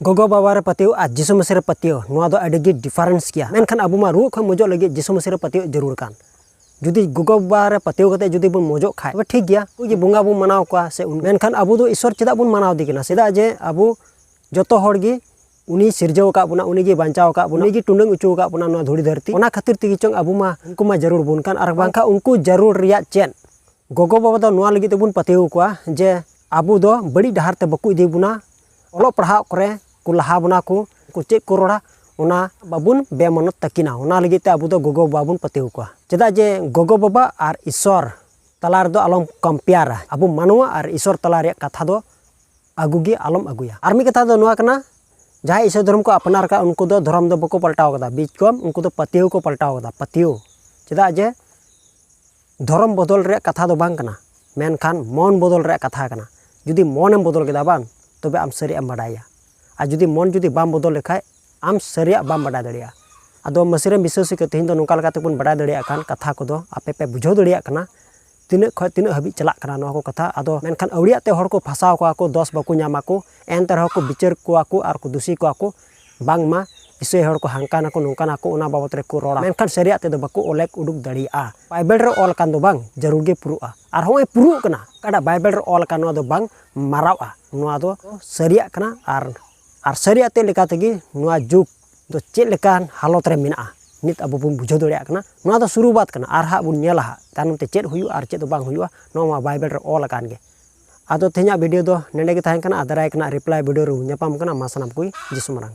ᱜᱚᱜᱚ ᱵᱟᱵᱟ ᱨᱮ ᱯᱟᱹᱛᱭᱟᱹᱣ ᱟᱨ ᱡᱤᱥᱩ ᱢᱟᱹᱥᱤ ᱨᱮ ᱯᱟᱹᱛᱭᱟᱹᱣ ᱱᱚᱣᱟ ᱫᱚ ᱟᱹᱰᱤ ᱜᱮ ᱰᱤᱯᱷᱟᱨᱮᱱᱥ ᱜᱮᱭᱟ ᱢᱮᱱᱠᱷᱟᱱ ᱟᱵᱚ ᱢᱟ ᱨᱩᱣᱟᱹᱜ ᱠᱷᱚᱱ ᱢᱚᱡᱚᱜ ᱞᱟᱹᱜᱤᱫ ᱡᱤᱥᱩ ᱢᱟᱹᱥᱤ ᱨᱮ ᱯᱟᱹᱛᱭᱟᱹᱣ ᱡᱟᱹᱨᱩᱲ ᱠᱟᱱ ᱡᱩᱫᱤ ᱜᱚᱜᱚ ᱵᱟᱵᱟ ᱨᱮ ᱯᱟᱹᱛᱭᱟᱹᱣ ᱠᱟᱛᱮ ᱡᱩᱫᱤ ᱵᱚᱱ ᱢᱚᱡᱚᱜ ᱠᱷᱟᱡ ᱛᱚᱵᱮ ᱴᱷᱤᱠ ᱜᱮᱭᱟ ᱩᱱᱠᱩ ᱡᱮ ᱵᱚᱸᱜᱟ ᱵᱚᱱ ᱢᱟᱱᱟᱣ ᱠᱚᱣᱟ ᱥᱮ ᱢᱮᱱᱠᱷᱟᱱ ᱟᱵᱚ ᱫᱚ ᱤᱥᱚᱨ ᱪᱮᱫᱟᱜ ᱵᱚᱱ ᱢᱟᱱᱟᱣ ᱫᱮ ᱠᱟᱱᱟ ᱪᱮᱫᱟᱜ ᱡᱮ ᱟᱵᱚ ᱡᱚᱛᱚ ᱦᱚᱲ ᱜᱮ ᱩᱱᱤ ᱥᱤᱨᱡᱟᱹᱣ ᱟᱠᱟᱫ ᱵᱚᱱᱟ ᱩᱱᱤ ᱜᱮ ᱵᱟᱧᱪᱟᱣ ᱟᱠᱟᱫ ᱵᱚᱱᱟ ᱩᱱᱤ ᱜᱮ ᱴᱩᱰᱟᱹᱝ ᱚᱪᱚ ᱟᱠᱟᱫ ᱵᱚᱱᱟ ᱱᱚᱣᱟ ᱫᱷᱩᱲᱤ ᱫᱷᱟᱹᱨᱛᱤ ᱚᱱᱟ ᱠᱷᱟᱹᱛᱤᱨ ᱛᱮᱜᱮ ᱪᱚᱝ ᱟᱵᱚ ᱢᱟ ᱩᱱᱠᱩ ᱢᱟ ᱡᱟᱹᱨᱩᱲ ᱵᱚᱱ ᱠᱟᱱ ᱟᱨ ᱵᱟᱝᱠᱷᱟᱱ ᱩᱱᱠᱩ ᱡᱟᱹᱨᱩᱲ ᱨᱮᱭᱟᱜ ᱪᱮᱫ ᱜᱚᱜᱚ ᱵᱟᱵᱟ ᱫᱚ ᱱᱚᱣᱟ ᱞᱟᱹᱜᱤᱫ ᱛᱮᱵᱚᱱ ᱯᱟᱹᱛᱭᱟᱹᱣ ᱠᱚᱣᱟ ᱡᱮ ᱟᱵᱚ ᱫᱚ ᱵᱟᱹᱲᱤᱡ ᱰᱟᱦᱟᱨ ᱛᱮ ᱵᱟᱠᱚ ᱤᱫᱤ ᱵᱚᱱᱟ ᱚᱞᱚᱜ ᱯᱟᱲᱦᱟᱜ ᱠᱚᱨᱮ ᱠᱚ ᱞᱟᱦᱟ ᱵᱚᱱᱟ ᱠᱚ ᱩᱱᱠᱩ ᱪᱮᱫ ᱠᱚ ᱨᱚᱲᱟ ᱚᱱᱟ ᱵᱟᱵᱚᱱ ᱵᱮᱢᱟᱱᱚᱛ ᱛᱟᱹᱠᱤᱱᱟ ᱚᱱᱟ ᱞᱟᱹᱜᱤᱫ ᱛᱮ ᱟᱵᱚ ᱫᱚ ᱜᱚᱜᱚ ᱵᱟᱵᱟ ᱵᱚᱱ ᱯᱟᱹᱛᱭᱟᱹᱣ ᱠᱚᱣᱟ ᱪᱮᱫᱟᱜ ᱡᱮ ᱜᱚᱜᱚ ᱵᱟᱵᱟ ᱟᱨ ᱤᱥᱥᱚᱨ ᱛᱟᱞᱟ ᱨᱮᱫᱚ ᱟᱞᱚᱢ ᱠᱚᱢᱯᱮᱭᱟᱨᱟ ᱟᱵᱚ ᱢᱟᱱᱣᱟ ᱟᱨ ᱤᱥᱥᱚᱨ ᱛᱟᱞᱟ ᱨᱮᱭᱟᱜ ᱠᱟᱛᱷᱟ ᱫᱚ ᱟᱹᱜᱩ ᱜᱮ ᱟᱞᱚᱢ ᱟᱹᱜᱩᱭᱟ ᱟᱨ ᱢᱤᱫ ᱠᱟᱛᱷᱟ ᱫᱚ ᱱᱚᱣᱟ ᱠᱟᱱᱟ ᱡᱟᱦᱟᱸᱭ ᱤᱥᱥᱚᱨ ᱫᱷᱚᱨᱚᱢ ᱠᱚ ᱟᱯᱱᱟᱨ ᱠᱟᱜ ᱩᱱᱠᱩ ᱫᱚ ᱫᱷᱚᱨᱚᱢ ᱫᱚ ᱵᱟᱠᱚ ᱯᱟᱞᱴᱟᱣ ᱠᱟᱫᱟ ᱵᱤᱡᱽ ᱠᱚᱢ ᱩᱱᱠᱩ ᱫᱚ ᱯᱟᱹᱛᱭᱟᱹᱣ ᱠᱚ ᱯᱟᱞᱴᱟᱣ ᱠᱟᱫᱟ ᱯᱟᱹᱛᱭᱟᱹᱣ ᱪᱮᱫᱟᱜ ᱡᱮ ᱫᱷᱚᱨᱚᱢ ᱵᱚᱫᱚᱞ ᱨᱮᱭᱟᱜ ᱠᱟᱛᱷᱟ ᱫᱚ ᱵᱟᱝ ᱠᱟᱱᱟ ᱢᱮᱱᱠᱷᱟᱱ ᱢᱚᱱ ᱵᱚᱫᱚᱞ ᱨᱮᱭᱟᱜ ᱠᱟᱛᱷᱟ ᱠᱟᱱᱟ ᱡᱩᱫᱤ ᱢᱚᱱᱮᱢ ᱵᱚᱫᱚᱞ ᱠᱮᱫᱟ ᱵᱟᱝ ᱛᱚᱵᱮ ᱟᱢ ᱥᱟᱹᱨᱤᱭᱟᱜ ᱮᱢ ᱵᱟᱰᱟᱭᱟ ᱟᱨ ᱡᱩᱫᱤ ᱢᱚᱱ ᱡᱩᱫᱤ ᱵᱟᱢ ᱵᱚᱫᱚᱞ ᱞᱮᱠᱷᱟᱡ ᱟᱢ ᱥᱟᱹᱨᱤᱭᱟᱜ ᱵᱟᱢ ᱵᱟᱰᱟᱭ ᱫᱟᱲᱮᱭᱟᱜᱼᱟ ᱟᱫᱚ ᱢᱟᱹᱥᱤᱨᱮ ᱵᱤᱥᱟᱹᱥᱤ ᱠᱚ ᱛᱮᱦᱮᱧ ᱫᱚ ᱱᱚᱝᱠᱟ ᱞᱮᱠᱟᱛᱮ ᱵᱚᱱ ᱵᱟᱰᱟᱭ ᱫᱟᱲᱮᱭᱟᱜ ᱠᱟᱱ ᱠᱟᱛᱷᱟ ᱠᱚᱫᱚ ᱟᱯᱮ ᱯᱮ ᱵᱩᱡᱷᱟᱹᱣ ᱫᱟᱲᱮᱭᱟᱜ ᱠᱟᱱᱟ ᱛᱤᱱᱟᱹᱜ ᱠᱷᱚᱡ ᱛᱤᱱᱟᱹᱜ ᱦᱟᱹᱵᱤᱡ ᱪᱟᱞᱟᱜ ᱠᱟᱱᱟ ᱱᱚᱣᱟ ᱠᱚ ᱠᱟᱛᱷᱟ ᱟᱫᱚ ᱢᱮᱱᱠᱷᱟᱱ ᱟᱹᱣᱲᱤᱭᱟᱜ ᱛᱮ ᱦᱚᱲ ᱠᱚ ᱯᱷᱟᱥᱟᱣ ᱠᱚᱣᱟ ᱠᱚ ᱫᱚᱥ ᱵᱟᱠᱚ ᱧᱟᱢᱟ ᱠᱚ ᱮᱱᱛᱮ ᱨᱮᱦᱚᱸ ᱠᱚ ᱵᱤᱪᱟᱹᱨ ᱠᱚᱣᱟ ᱠᱚ ᱟᱨ ᱠᱚ ᱫᱩᱥᱤ ᱠᱚᱣᱟ ᱠᱚ ᱵᱟᱝᱢᱟ ᱤᱥᱟᱹᱭ ᱦᱚᱲ ᱠᱚ ᱦᱟᱝᱠᱟ ᱱᱟᱠᱚ ᱱᱚᱝᱠᱟ ᱱᱟᱠᱚ ᱚᱱᱟ ᱵᱟᱵᱚᱛ ᱨᱮ ᱠᱚ ᱨᱚᱲᱟ ᱢᱮᱱᱠᱷᱟᱱ ᱥᱟᱹᱨᱤᱭᱟᱜ ᱛᱮᱫᱚ ᱵᱟᱠᱚ ᱚᱞᱮᱠ ᱩᱰᱩᱠ ᱫᱟᱲᱮᱭᱟᱜᱼᱟ ᱵᱟᱭᱵᱮᱞ ᱨᱮ ᱚᱞ ᱟᱠᱟᱱ ᱫᱚ ᱵᱟᱝ ᱡᱟᱹᱨᱩᱲ ᱜᱮ ᱯᱩᱨᱩᱜᱼᱟ ᱟᱨ ᱦᱚᱸᱜᱼᱚᱭ ᱯᱩᱨᱩᱜ ᱠᱟᱱᱟ ᱚᱠᱟᱴᱟᱜ ᱵᱟᱭᱵᱮᱞ ᱨᱮ ᱚᱞ ᱟᱠᱟᱱ ᱱᱚᱣᱟ ᱫᱚ ᱵᱟᱝ ᱢᱟᱨᱟᱣᱜᱼᱟ ᱱᱚᱣᱟ ᱫᱚ ᱥᱟᱹᱨᱤᱭᱟᱜ ᱠᱟᱱᱟ ᱟᱨ ᱟᱨ ᱥᱟᱹᱨᱤᱭᱟᱜ ᱛᱮ ᱞᱮᱠᱟ ᱛᱮᱜᱮ ᱱᱚᱣᱟ ᱡᱩᱜᱽ ᱫᱚ ᱪᱮᱫ ᱞᱮᱠᱟᱱ ᱦᱟᱞᱚᱛ ᱨᱮ ᱢᱮᱱᱟᱜᱼᱟ ᱱᱤᱛ ᱟᱵᱚ ᱵᱚᱱ ᱵᱩᱡᱷᱟᱹᱣ ᱫᱟᱲᱮᱭᱟᱜ ᱠᱟᱱᱟ ᱱᱚᱣᱟ ᱫᱚ ᱥᱩᱨᱩᱵᱟᱛ ᱠᱟᱱᱟ ᱟᱨ ᱦᱟᱸᱜ ᱵᱚᱱ ᱧᱮᱞᱟ ᱦᱟᱸᱜ ᱛᱟᱭᱱᱚᱢ ᱛᱮ ᱪᱮᱫ ᱦᱩᱭᱩᱜᱼᱟ ᱟᱨ ᱪᱮᱫ ᱫᱚ ᱵᱟᱝ ᱦᱩᱭᱩᱜᱼᱟ ᱱᱚᱣᱟ ᱢᱟ ᱵᱟᱭᱵᱮᱞ ᱨᱮ ᱚᱞ ᱟᱠᱟᱱ ᱜᱮ ᱟᱫᱚ ᱛᱮᱦᱮᱧᱟᱜ ᱵᱷᱤᱰᱤᱭᱳ ᱫᱚ ᱱᱮᱰᱮ ᱜᱮ ᱛᱟᱦᱮᱸ ᱠᱟᱱᱟ ᱟᱨ ᱫᱟᱨᱟᱭ ᱠᱟᱱᱟ ᱨᱤᱯᱞᱟᱭ ᱵᱷᱤᱰᱤᱭᱳ ᱨᱮ ᱧᱟᱯᱟᱢ ᱠᱟᱱᱟ ᱢᱟ ᱥᱟᱱᱟᱢ ᱠᱚᱜᱮ ᱡᱤᱥᱩ ᱢᱟᱨᱟᱝ